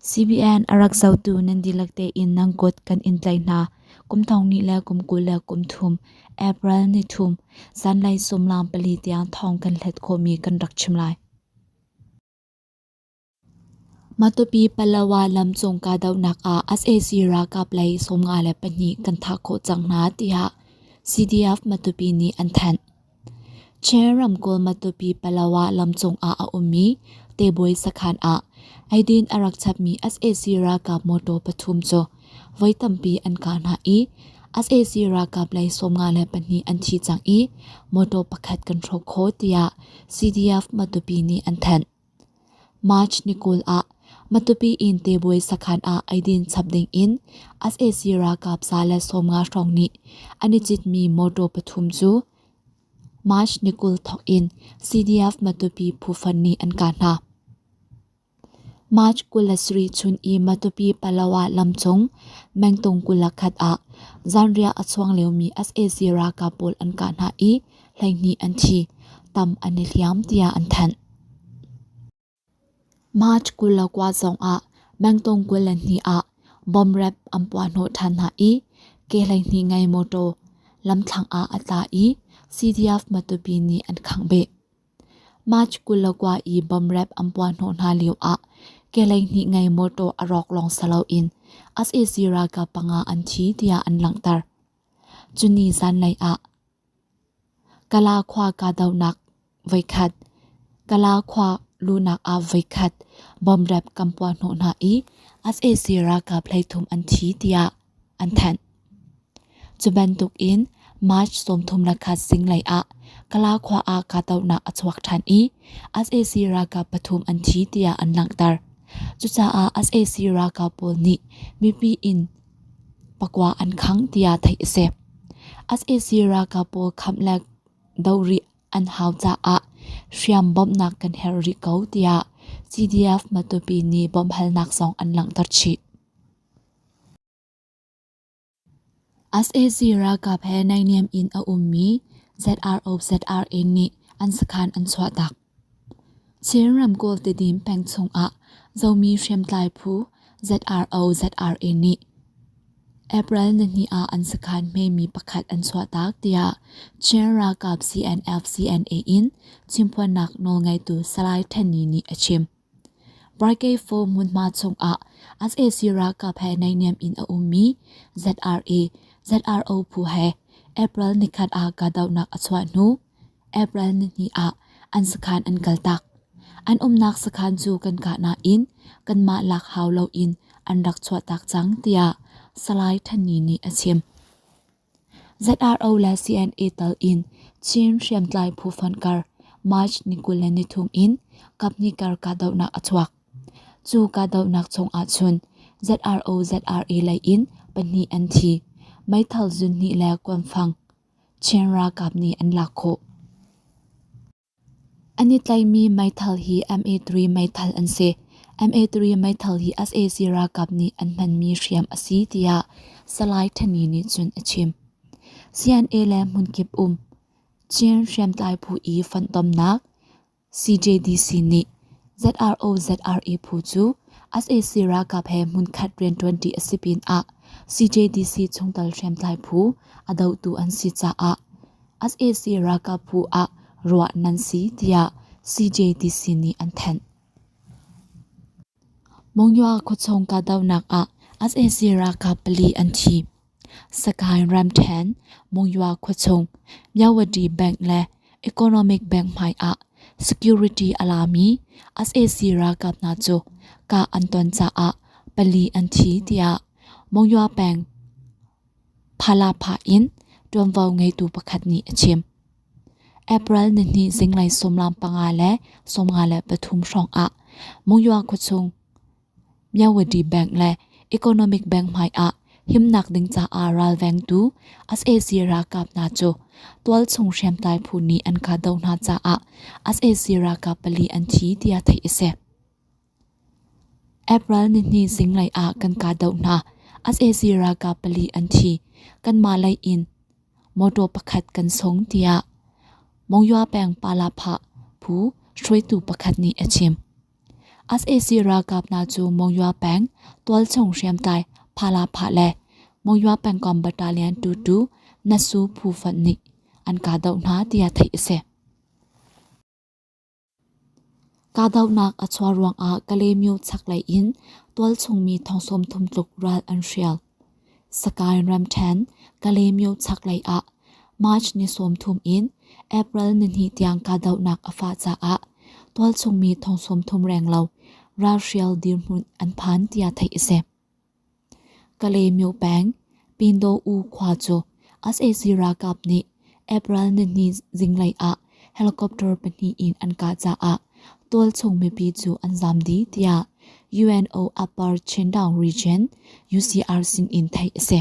CBN a rak zotu nan dihlak tein nan kut kan in tlaih hna. Kum thong ni le kum kul le kum thum, April ni thum, zanlei sumlaang pali tiang thong kan hlet khawhmi kan rak chim lai. Matupi Palawa lamcung kahdohnak ah sac ralkap lei sawm nga le pahnih kan thah khawh cang hna tiah CDF Matupi nih an thanh. Chin ramkulh Matupi Palawa lam cungah a ummi Tebawi sakhan ah eidin a rak chapmi sac ralkap motor pathum cu voi tampi an kah hna i sac ralkap lei sawmnga le pahnih an thi cang i motor pakhat kan hrawk khawh tiah CDF Matupi nih an thanh. March ni kul ah Matupi inn tebuai sakhan ah eidin chap dingin sac ralkap sa le sawmnga hrawng nih an i citmi mawṭaw pathum cu March ni kul thawk in CDF Matupi phufan nih an kah hna. March kul le sarih chun i Matupi Palawa lamcung mengtung kul le khat ah zanriah a chuang liomi sac ralkap pawl an kah hna i hleihnih an thi, tam an i hliam tiah an thanh. March kul le kua zongah mengtong kul le hnih ah bomb rap an puahhnawh ṭhan hna i ke hleihnih ngei motor lamthlang ah a tla i CDF-Matupi nih an khangbeh. March kul le kua i bomb rap an puahhnawh hna lioah ke hleihnih ngei motor a rawk lawng si loin as-e-si ralkap panga an thi tiah an langhter. Cuni zanlei ah Kala khua kahdohnak voikhat, Kala khua luhnak ah voikhat bomb rap kan puah hnawh hna i sac ralkap hleithum an thi tiah an thanh. Cu bantuk in March sawmthum le khat zinglei ah Kala khua ah kahdohnak a chuak ṭhan i sac ralkap pathum an thi tiah an langhter. Cucaah sac ralkap pawl nih mipi in pakua an khangh tiah theih a si. sac ralkap pawl khamh le doh rih an hau caah hriam bawmhnak kan herh rih ko tiah CDF Matupi nih bawmhhalnak zong an langhter chih. sac ralkap he naihniam in a ummi ZRO ZRA nih an sakhan an chuahtak. Chin ramkulh Tidim peng chungah zomi hriamtlai phu ZRO ZRA nih April nihnih ah an sakhan hmemi pakhat an chuahtak tiah Chin ralkap CNF CNA in chimphuannak nawlngeitu Salai Hteni nih a chim. Barkei-Fo hmunhma chungah sac ralkap he naihniam in a ummi ZRA ZRO phu he April nikhat ah kahdohnak a chuah hnu April nihnih ah an sakhan an kaltak. An umnak sakhan cu kan kah nain kanmah lak hau loin an rak chuahtak cang, tiah Salai Thanni nih a chim. ZRO le CNA tal in Chin hriamtlai phufonh kar March ni kul le ni thum in kaphnih kar kahdohnak a chuak. Cu kahdohnak chung ahcun ZRO ZRA lei in pahnih an thi. Meithal zunhnih le kuanfang Chin ralkap nih an lak khawh. An i tlaihmi meithal hi MA3 meithal an si. MA3 meithal hi sac ralkap nih an hmanmi hriam a si tiah Salai Thani nih cun a chim. CNA le hmunkip um Chin hriamtlai phu i fonhtomnak CJDC nih ZRO ZRE phu cu sac ralkap he hmunkhat rianṭuanṭi a si pinah CJDC chungtel hriamtlai phu a dohtu an si caah sac ralkap phu ah ruah nan si tiah CJDC nih an thanh. Monywa khuachung kahdohnak ah sac ralkap pali an thi. Sakae Ramthen, Monywa khuachung, Myawadi Bank le Economic Bank hmai ah security a lami sac ralkap hna cu kah an ton caah pali an thi tiah Monywa peng Phalapha in ṭuanvo ngeitu pakhat nih a chim. April nihnih zinglei sawmlam panga le sawmnga le pathum hrawngah Mungyoa khuachung Myawadi Bank le Economic Bank hmaiah himnak ding caah ralvengtu sac ralkap hna cu tualchung hriamtlai phu nih an kahdoh hna caah sac ralkap pali an thi tiah theih a si. April nihnih zinglei ah kan kahdoh hna. sac ralkap pali an thi. Kanmah lei in mawtaw pakhat kan sung tiah Mongyua peng Palapha phu hruaitu pakhat nih a chim. sac ralkap hna cu Mongyua peng tualchung hriamtlai Palapha le Mongyua pengkomh battalion tutu Nasu phu fonh nih an kahdoh hna tiah theih a si. Kahdohnak a chuah ruangah Kalemyo chaklei in tualchungmi thong thum tluk ral an hrial. Sagaing ramṭhen Kalemyo chaklei ah March ni sawmthum in April nihnih tiang kahdohnak a fah caah tualchungmi thong sawmthum renglo ralhrial dirhmun an phan tiah theih a si. Kalymyo peng, Pindaw-u khua cu sac ralkap nih April nihnih zinglei ah helicopter pahnih in an kah caah tualchung mipi cu an zam dih, tiah UNO Upper Chindown Region, UCR, sin in theih a si.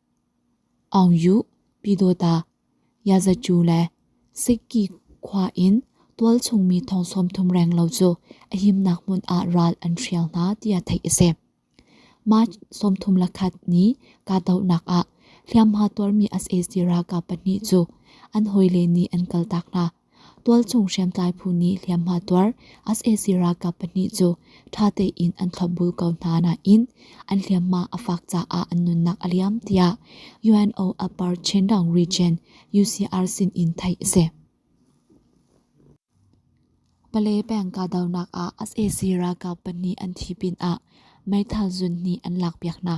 Aung Yuh, Pyidawta, Yazacu le Sikyi khua in tualchungmi thong sawmthum reng lo cu a himnak hmun ah ral an hrial hna tiah theih a si. March sawmthum le khat ni kahdohnak ah hliamhma tuarmi sac ralkap pahnih cu an hawile nih an kaltak hna. Tualchung hriamtlai phu nih hliamhma tuar sac ralkap pahnih cu ṭha tein an thlopbul ko hna nain an hliamhma a fak caah an nunnak a liam tiah UNO Upper Chindown Region UCR sin in theih a si. Pale peng kahdohnak ah sac ralkap pahnih an thi pinah meithal zun hnih an lakpiak hna.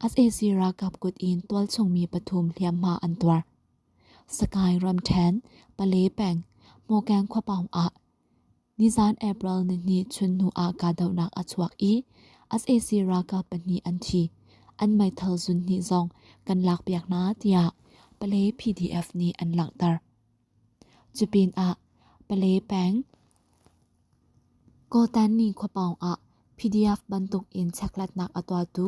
sac ralkap kut in tualchungmi pathum hliamhma an tuar. Sagaing ramṭhen, Pale peng, Mokeng khuapaung ah nizan April nihnih chunhnu ah kahdohnak a chuak i sac ralkap pahnih an thi. An meithal zunhnih zong kan lakpiak hna tiah Pale PDF nih an langhter. Cupinah Pale peng Gotanni khuapawng ah PDF bantuk in chekhlatnak a tuahtu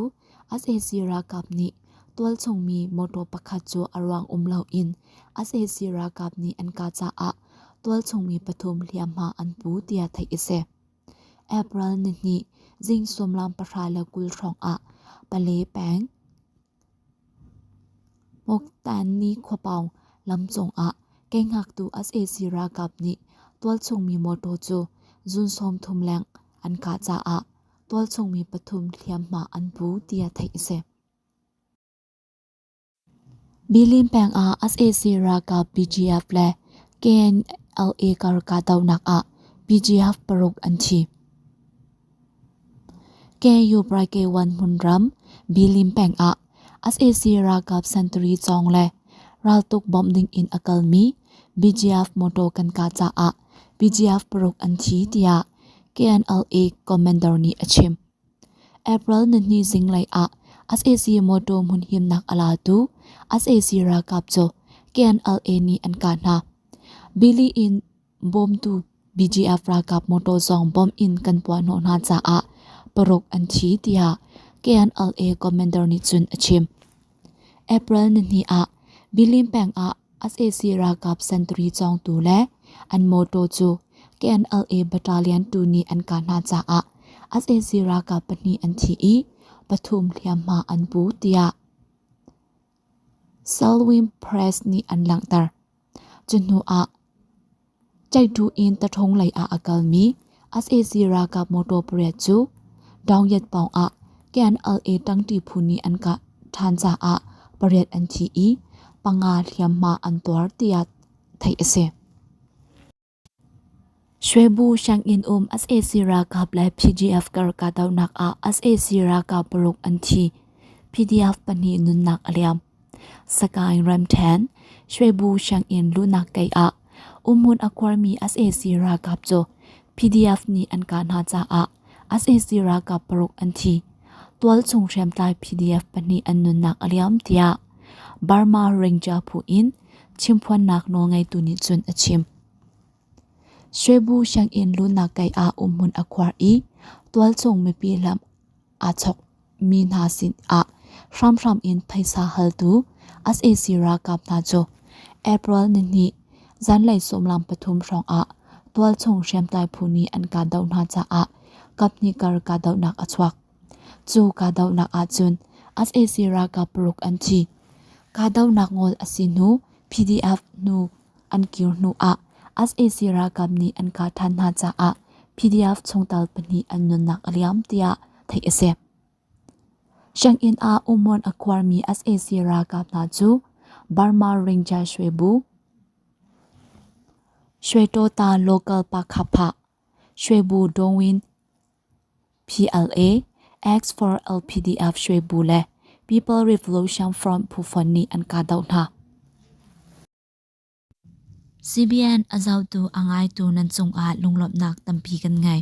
Asahi ralkap nih tualchungmi mawtaw pakhat cu a ruang um loin Asahi ralkap nih an kah caah tualchungmi pathum hliamhma an pu tiah theih a si. April nihnih zing sullam pahra le kul hrawngah Pale peng Poktan ni khuapaung lam cungah kei ngaktu sac ralkap nih tualchungmi mawtaw cu June sawmthum leng an kah caah tualchungmi pathum hliamhma an pu tiah theih a si. Bilin pengah sac ralkap BGF le KNLA kar kahdohnak ah BGF paruk an thi. KU-Pryk-1 hmunram Bilin peng ah sac ralkap sentari cawng le raltuk bawmh ding in a kalmi BGF motor kan kah caah BGF paruk an thi tiah KNLA commander nih a chim. April nihni zinglei ah sac motor hmunhimnak a latu sac ralkap cu KNLA nih an kah hna. Bilin in Bawmtu BGF ralkap motor zong bomb in kan puahhnawh hna caah paruk an thi tiah KNLA commander nih cun a chim. April nihnih ah Bilin peng ah sac ralkap sentari cawngtu le an motor cu KNLA battalion tu nih an kah hna caah sac ralkap pahnih an thi i pathum hliamhma an pu tiah Selwyn Press nih an langhter. Cu hnuah Ceihduh in Tathong lei ah a kalmi sac ralkap motor pariat cu Daungyat pawng ah KNLA tangti phu nih an kah ṭhan caah pariat an thi i panga hliamhma an tuar tiah theih a si. Shwebu sianginn um sac ralkap le PDF kar kahdohnak ah sac ralkap paruk an thi. PDF pahnih nunnak a liam. Sakaing Ramthen, Shwebu sianginn luhnak kei ah umun a kuarmi sac ralkap cu PDF nih an kah hna caah sac ralkap paruk an thi. Tualchung hriamtlai PDF pahnih an nunnak a liam tiah Burma Ranger phu in Chimphuannak nawlngeitu nih cun a chim. Shwebu sianginn lunak kei ah umhmun a khuar i tualcung mipi lam aa chok mi hna sin ah hramhram in phaisa haltu sac ralkap hna cu April nihnih zanlei sawmlam pathum hrawng ah tualchung hriamtlai phu nih an kahdoh hna caah kaphnih kar kahdohnak a chuak. Cu kahdohnak ahcun sac ralkap paruk an thi. Kahdohnak ngol a si hnu PDF nu an kir hnu ah sac ralkap nih an kah than hna caah PDF chungtel pahnih an nunnak a liam tiah theih a si. Sianginn ah ummuan a kuarmi sac ralkap hna cu Burma Ringjai Shwe Bu, Shwe Tota Local Pakha Pha, Shwe Bu Dawin, PLA, Acts for LPDF Shwe Bu le People Revolution Front phu fon nih an kahdoh hna. CBN a zohtu a ngaitu nan cungah lunglawmhnak tampi kan ngei.